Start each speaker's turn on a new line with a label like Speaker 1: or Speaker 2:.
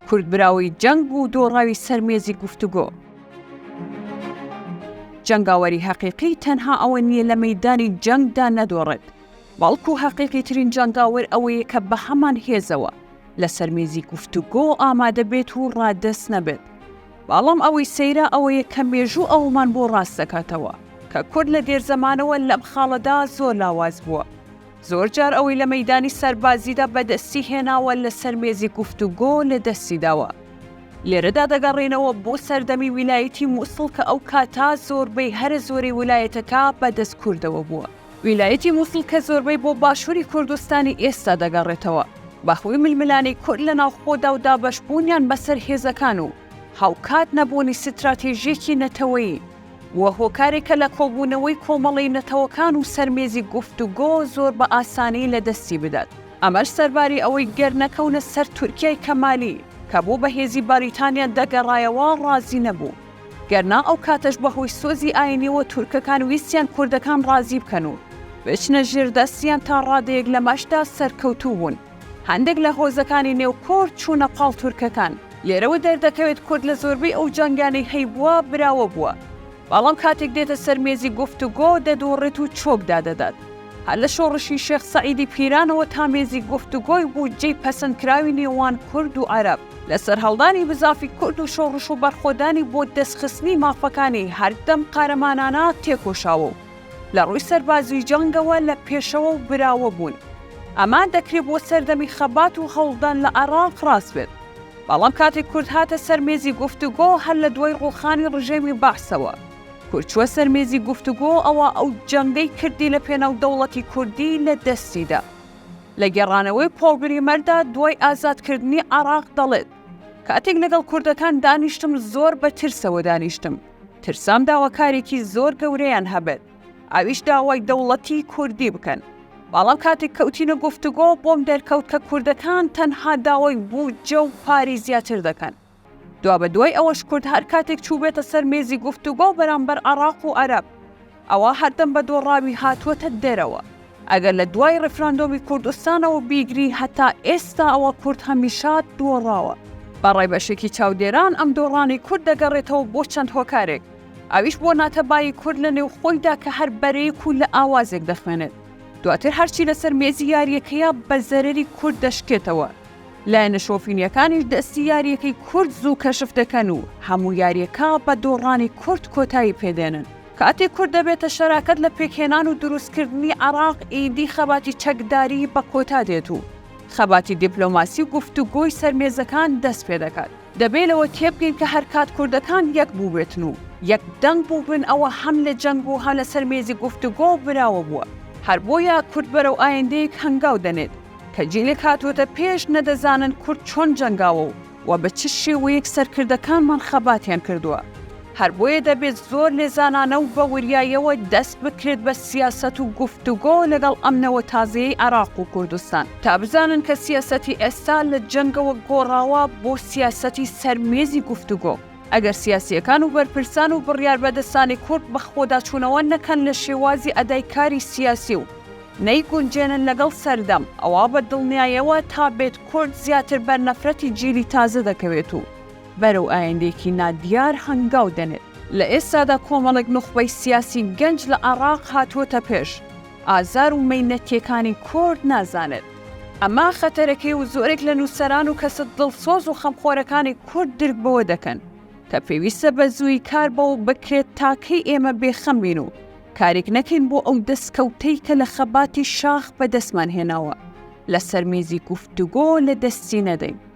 Speaker 1: کورد براوەی جەنگ بوو دۆڕاوی سەر مێزی گفتوگۆ. جەنگاوەری هەقیقی تەنها ئەوە نییە لە مەدانی جەنگدا نەدۆڕێت. بەڵکو هەقیقی ترین جەنگاوەر ئەوەیە کە بە هەمان هێزەوە لەسەر مێزی گفتوگۆ ئامادە بێت و ڕادەست نەبێت. بەاڵم ئەوەی سەیرە ئەوەیە کە مێژوو ئەوەمان بۆ ڕاست دەکاتەوە کە کورد لە دێر زەمانەوە لەم خاڵەدا زۆر لاواز بووە. زۆر جار ئەوەی لە مەیدانی سەربازیدا بە دەستی هێناوە لە سەر مێزی گفتوگۆ لە دەستی داوە. لێرەدا دەگەڕێنەوە بۆ سەردەمی ویلایەتی موسڵ کە ئەو کاتە زۆربەی هەرە زۆرەی ولایەتەکە بە دەست کوردەوە بووە. ویلایەتی موسڵ کە زۆربەی بۆ باشووری کوردستانی ئێستا دەگەڕێتەوە، بەهۆی ململانێی کورد لە ناوخۆدا و دابەشبوونیان بەسەر هێزەکان و هاوکات نەبوونی ستراتێژییەکی نەتەوەیی، بووە هۆکارێکە لە کۆبوونەوەی کۆمەڵەی نەتەوەکان و سەر مێزی گفتوگۆ زۆر بە ئاسانی لە دەستی بدات. ئەمەش سەرباری ئەوەی گەر نەکەونە سەر تورکیای کەمالی کە بۆ بەهێزی باریتانیا دەگەڕایەوە ڕازی نەبوو، گەر نا ئەو کاتەش بە هۆی سۆزی ئاینیەوە تورکەکان ویستیان کوردەکان ڕازی بکەن و بچنە ژێر دەستیان تا ڕادەیەک لەمەشدا سەرکەوتوو بوون هەندێک لە هۆزەکانی نێو کورد چوونە پاڵ تورکەکان. لێرەوە دەردەکەوێت کورد لە زۆربەی ئەو جەنگانەی هەیبووە براوە بووە بەڵام کاتێک دێتە سەر مێزی گفتوگۆ دەدۆڕێت و چۆک دادەدات هەر لە شۆڕشی شێخ سەعیدی پیرانەوە تا مێزی گفتوگۆی بودجەی پەسەندکراوی نێوان کورد و عەرەب لە سەرهەڵدانی بزافی کورد و شۆڕش و بەرخۆدانی بۆ دەستخستنی مافەکانی هەردەم قارەمانانە تێکۆشاوە و لە ڕووی سەربازی جەنگەوە لە پێشەوە و براوە بوون. ئەمە دەکرێ بۆ سەردەمی خەبات و هەوڵدان لە عێڕاق ڕاست بێت. بەڵام کاتێک کورد هاتە سەر مێزی گفتوگۆ هەر لە دوای ڕووخانی ڕژێمی بەعسەوە کورد چووە سەر مێزی گفتوگۆ ئەوا ئەو جەنگەی کردی لە پێناو دەوڵەتی کوردی لە دەستی دا. لە گێڕانەوەی پۆڵ بریمەردا دوای ئازادکردنی عێراق دەڵێت، کاتێک لەگەڵ کوردەکان دانیشتم زۆر بە ترسەوە دانیشتم، ترسام داواکارێکی زۆر گەورەیان هەبێت، ئەویش داوای دەوڵەتی کوردی بکەن، بەڵام کاتێک کەوتینە گفتوگۆ بۆم دەرکەوت کە کوردەکان تەنها داوای بودجە و پارەی زیاتر دەکەن. دوابەدوای ئەوەش کورد هەر کاتێک چووبێتە سەر مێزی گفتوگۆ بەرامبەر عەڕاق و عەرەب ئەوا هەردەم بە دۆڕاوی هاتووەتە دەرەوە. ئەگەر لە دوای ڕیفراندۆمی کوردستانەوە بیگری هەتا ئێستا ئەوا کورد هەمیشە دۆڕاوە. بە ڕای بەشێکی چاودێران ئەم دۆڕانی کورد دەگەڕێتەوە بۆ چەند هۆکارێک، ئەویش بۆ ناتەبایی کورد لە نێوخۆیدا کە هەر بەرەیەک و لە ئاوازێک دەخوێنێت، دواتر هەرچی لەسەر مێزی یارییەکەیە بە زەرەری کورد دەشکێتەوە. لایەنە شۆفینیەکانیش دەستی یاریەکەی کورد زوو کەشف دەکەن و هەموو یاریەکە بە دۆڕانی کورد کۆتایی پێدێنن. کاتێک کورد دەبێتە شەراکەت لە پێکهێنان و دروستکردنی عێراق ئیدی خەباتی چەکداری بە کۆتا دێت و خەباتی دیپلۆماسی و گفتوگۆی سەر مێزەکان دەست پێدەکات. دەبێ لەوە تێبگەین کە هەر کات کوردەکان یەک بووبێتن و یەک دەنگ بووبن ئەوە هەم لە جەنگ و هە لەسەر مێزی گفتوگۆ براوە بووە. هەر بۆیە کورد بەرەو ئایندەیەک هەنگاو دەنێت کە جیلێک هاتووەتە پێش نەدەزانن کورد چۆن جەنگاوە و وە بە چ شێوەیەک سەرکردەکانمان خەباتیان کردووە. هەر بۆیە دەبێت زۆر لێزانانە و بە وریاییەوە دەست بکرێت بە سیاسەت و گفتوگۆ لەگەڵ ئەم نەوە تازەیەی عێراق و کوردستان تا بزانن کە سیاسەتی ئێستا لە جەنگەوە گۆڕاوە بۆ سیاسەتی سەر مێزی گفتوگۆ. ئەگەر سیاسییەکان و بەرپرسان و بڕیاربەدەستانی کورد بەخۆداچوونەوە نەکەن لە شێوازی ئەدای کاری سیاسی و نەیگونجێنن لەگەڵ سەردەم، ئەوا بە دڵنیایەوە تا بێت کورد زیاتر بەر نەفرەتی جیلی تازە دەکەوێت و، بەرەو ئایندەیەکی نادیار هەنگاو دەنێت. لە ئێستادا کۆمەڵێک نوخبەی سیاسی گەنج لە عێڕاق هاتووەتە پێش، ئازار و مەینەتییەکانی کورد نازانێت. ئەمە خەتەرەکەی و زۆرێک لە نووسەران و کەسە دڵسۆز و خەمخۆرەکانی کورد درک بەوە دەکەن کە پێویستە بە زوویی کار بەوە بکرێت تا کەی ئێمە بێخەم بین و کارێک نەکەین بۆ ئەو دەستکەوتەی کە لە خەباتی شاخ بەدەستمان هێناوە لەسەر مێزی گفتوگۆ لە دەستی نەدەین.